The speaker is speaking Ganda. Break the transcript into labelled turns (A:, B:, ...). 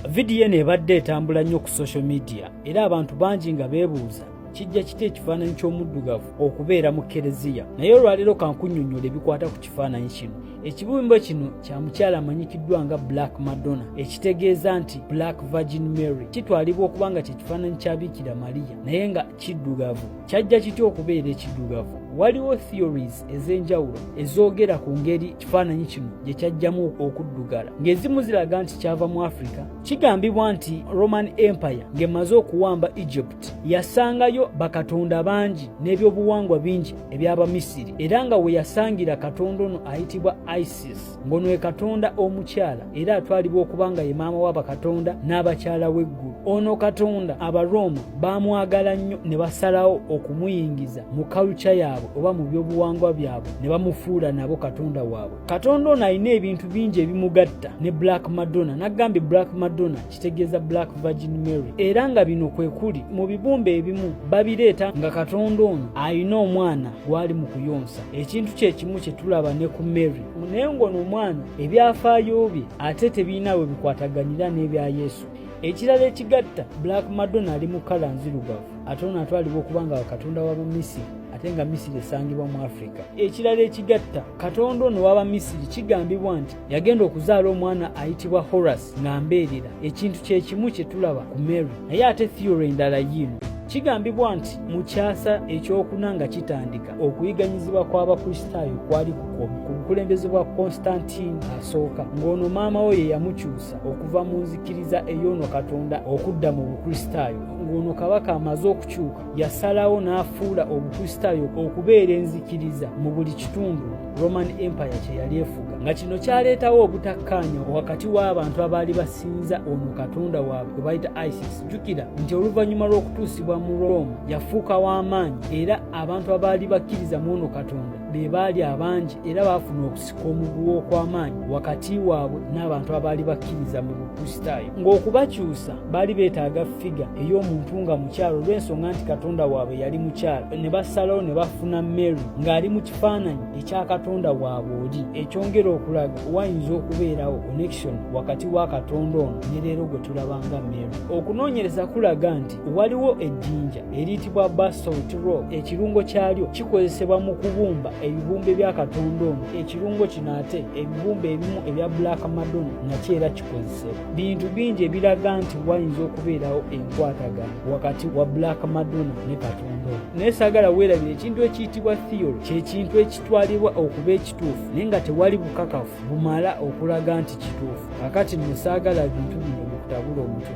A: Vidiyo eno ebadde etambula nnyo ku social media era abantu bangi nga beebuuza kijja kita ekifaananyi ky'omuddugavu okubeera mu kereziya naye olwaleero kankunyonyola ebikwata ku kifaananyi kino ekibumbo kino kya mukyala amanyikiddwa nga black madonna ekitegeeza nti black virgin mary kitwalibwa okuba nga kyekifaananyi kya biikira mariya naye nga kiddugavu kyajja kitya okubeera ekiddugavu waliwo theories ez'enjawulo ezoogera ku ngeri kifaananyi kino gye kyajjamu okuddugala ng'ezimu ziraga nti kyava mu africa kigambibwa nti roman empire ng'emaze okuwamba egypt yasangayo bakatonda bangi n'ebyobuwangwa bingi eby'abamisiri era nga we yasangira katonda ono ayitibwa isis ngono e katonda omukyala era atwalibwa okuba nga ye maama wa bakatonda n'abakyala w'eggulu ono katonda abarooma baamwagala nnyo ne basalawo okumuyingiza mu kalukya yaabwe oba mu byobuwangwa byabwe ne bamufuula nabo katonda waabwe katonda ono alina ebintu bingi ebimugatta ne black madonna n'agambye black madonna kitegeeza black virgin mary era nga bino kwe kuli mu bibumba ebimu babireeta nga katonda ono alina omwana gwali mu kuyonsa ekintu kye kimu kye tulaba ne ku mary naye ng'ono omwana ebyafaayo bye ate tebirina we bikwataganira n'ebya yesu ekirala ekigatta black madonna ali mu kala nzirugavu ate ono atwalibwa okuba nga katonda wa bamisiri ate nga misiri esangibwa mu afirika ekirala ekigatta katonda ono waba misiri kigambibwa nti yagenda okuzaala omwana ayitibwa horace ng'ambeerera ekintu kye kimu kye tulaba ku mary naye ate theory endala yiino kigambibwa nti mu kyasa ekyokuna nga kitandika okuyiganyizibwa kw'abakristaayo kwali kukomi ku bukulembeze bwa konstantine asooka ng'ono maama wo ye yamukyusa okuva mu nzikiriza ey'ono katonda okudda mu bukristaayo ng'ono kabaka amaze okukyuka yasalawo n'afuula obukristaayo okubeera enzikiriza mu buli kitundu roman empire kye yali efuga nga kino kyaleetawo obutakkaanya wakati w'abantu abaali basinza ono katonda waabwe gwe bayita isis jjukira nti oluvannyuma lw'okutuusibwa mu roma yafuuka w'amaanyi era abantu abaali bakkiriza mu ono katonda be baali abangi era baafuna okusi omuguwa okw'amaanyi wakati waabwe n'abantu abaali bakkiriza mu bukristaayo ng'okubakyusa baali beetaaga figa ey'omuntu nga mukyalo olw'ensonga nti katonda waabwe yali mukyalo ne basalawo ne bafuna mary ng'ali mu kifaananyi ekya katonda waabwe oli ekyongera okulaga wayinza okubeerawo connection wakati wa katonda ono ne leero gwe tulaba nga mary okunoonyereza kulaga nti waliwo ejjinja eriyitibwa basalt rock ekirungo kyalyo kikozesebwa mu kubumba ebibumbe bya katonda ono ekirungo kino ate ebibumbe ebimu ebya black madonna nakyo era kikozesebwa bintu bingi ebiraga nti wayinza okubeerawo enkwatagana wakati wa black madonna ne katonda ono naye saagala weerabira ekintu ekiyitibwa theory kyekintu ekitwalibwa okuba ekituufu naye nga tewali bukakafu bumala okulaga nti kituufu kakati nno saagala bintu bino bikutabula omutwe